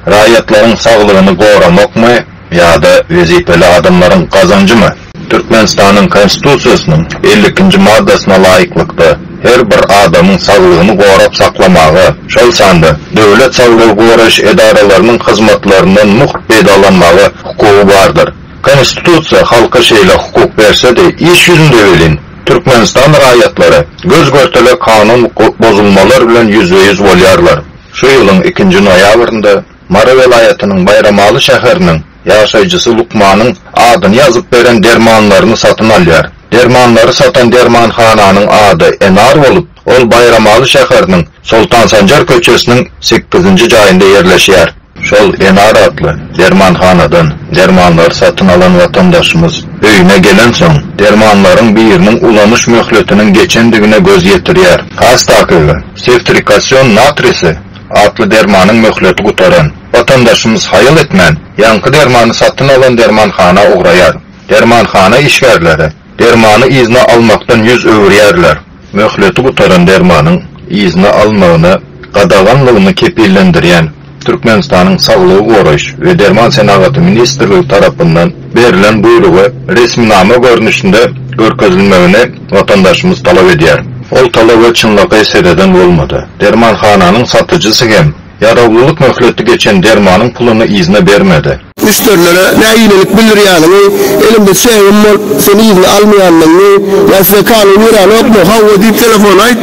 Raýatlaryň saglygyny goramakmy ýa-da wezipeli adamlaryň gazanjymy? Türkmenistanyň Konstitusiýasynyň elli ikinji maddasyna laýyklykda, her bir adamyň saglygyny gorap saklamaga, şol sanda döwlet saglygy goraýyş edaralarynyň hyzmatlaryndan mugt peýdalanmaga hukugy bardyr. Konstitusiýa halka şeýle hukuk berse-de, iş ýüzünde welin, Türkmenistan raýatlary göz-görtele kanun bozulmalar bilen ýüzbe-ýüz bolýarlar. Şu ýylyň ikinji noýabrynda Mary welaýatynyň Baýramaly şäheriniň ýaşaýjysy lukmanyň adyny ýazyp beren dermanlaryny satyn alýar. Dermanlary satan dermanhananyň ady Enar bolup, ol Baýramaly şäheriniň Soltansanjar köçesiniň sekizinji jaýynda ýerleşýär. Şol Enar atly dermanhanadan dermanlary satyn alan watandaşymyz öýüne gelensoň, dermanlaryň biriniň ulanyş möhletiniň geçendigine göz ýetirýär. Hastakygy, sewtrikasion natrisi atly dermanyň möhleti gutaran. Watandaşymyz haýal etmän, ýaňky dermany satyn alan dermanhana ugraýar. Dermanhana işgärleri dermany yzyna almakdan ýüz öwürýärler. Möhleti gutaran dermanyň yzyna alynmagyna gadaganlygyny kepillendirýän Türkmenistanyň Saglygy goraýyş we derman senagaty ministrligi tarapyndan berlen buýrugy resminama görnüşinde görkezilmegini watandaşymyz talap edýär. Ol talaba çynlakaý sereden bolmady. Dermanhananyň satyjysy hem. Ýarawlylyk möhleti geçen dermanyň puluny yzyna bermedi. Müşderilere nägilelik bildirýäniňi, elimde çegim bolup, sen yzyna almaýandygyňy ýa size kanun ýöräňokmy? Hawa diýip telefona aýt.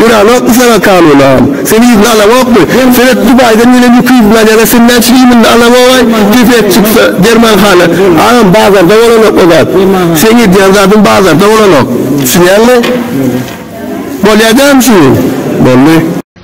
Ýöräňokmy saňa kanun agam? Sen yzyna alaňokmy? Seret, Dubaýdan gelen ýüki yz bilen ýaňa sen näçe iýminde alaňogaý, kesek çyksa, dermanhana. Agam, bazarda bolanok o zat. Seň edýän zadyň bazarda bolanok. Düşünýäňmi? Bolýa dämi şuny? Boldy.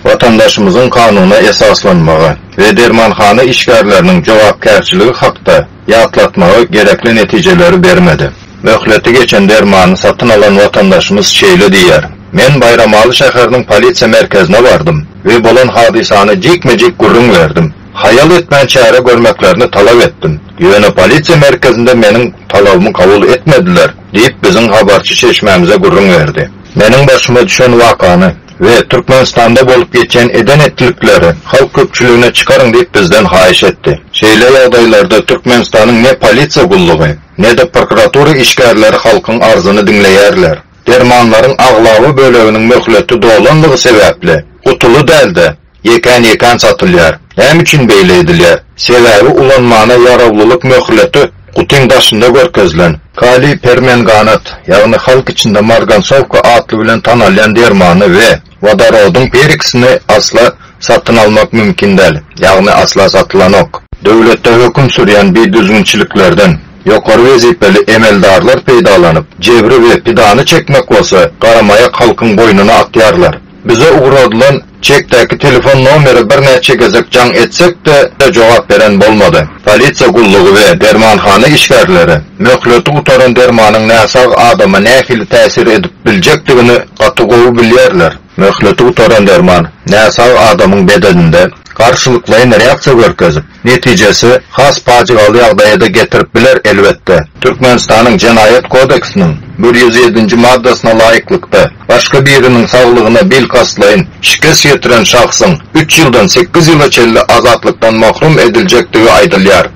Watandaşymyzyň kanuna esaslanmagy we dermanhana işgärleriniň jogapkärçiligi hakda ýatlatmagy gerekli netijeleri bermedi. Möhleti geçen dermany satyn alan watandaşymyz şeýle diýýär, Men Baýramaly şäheriniň polisiýa merkezine bardym we bolan hadysany jikme-jik gürrüň berdim. Haýal etmän çäre görmeklerini talap etdim. Ýöne polisiýa merkezinde meniň talabymy kabul etmediler, diýip, biziň habarçy çeşmämize gürrüň berdi. Meniň başyma düşen wakany. we Türkmenistanda bolup geçen eden-etdilikleri halk köpçüligine çykaryň diýip bizden haýyş etdi. Şeýle ýagdaýlarda Türkmenistanyň ne polisiýa gullugy, ne-de prokuratura işgärleri halkyň arzyny diňleýärler. Dermanlaryň aglaba böleginiň möhleti dolanlygy sebäpli, gutuly däl-de, Ýekän-ýekän satylýar. Näme üçin beýle edilýär? Sebäbi ulanmana ýarawlylyk möhleti gutyň daşynda görkezilen. Kaliý permenganat, ýagny halk içinde margansowka atly bilen tanalýan dermany we wodorodyň peroksini asla satyn almak mümkin däl, ýagny asla satylanok. Döwletde höküm sürýän bidüzgünçiliklerden ýokary wezipeli emeldarlar peýdalanyp, jebri we pidany çekmek bolsa garamaýak halkyň boýnuna atýarlar. Bize ugradylan çekdäki telefon nomeri birnäçe gezek jaň etsek-de, jogap beren bolmady. Polisiýa gullugy we dermanhana işgärleri möhleti gutaran dermanyň näsag adama nähili täsir edip biljekdigini gaty gowy bilýärler. Möhleti gutaran derman näsag adamyň bedeninde garşylyklaýyn reaksiýa görkezip, netijesi has pajygaly ýagdaýa-da getirip biler, elbetde. Türkmenistanyň Jenaýat kodeksiniň bir ýüz ýedinji maddasyna laýyklykda, başga biriniň saglygyna bil kastlaýyn şikes ýetiren şahsyň üç ýyldan sekiz ýyla çenli azatlykdan mahrum ediljekdigi aýdylýar.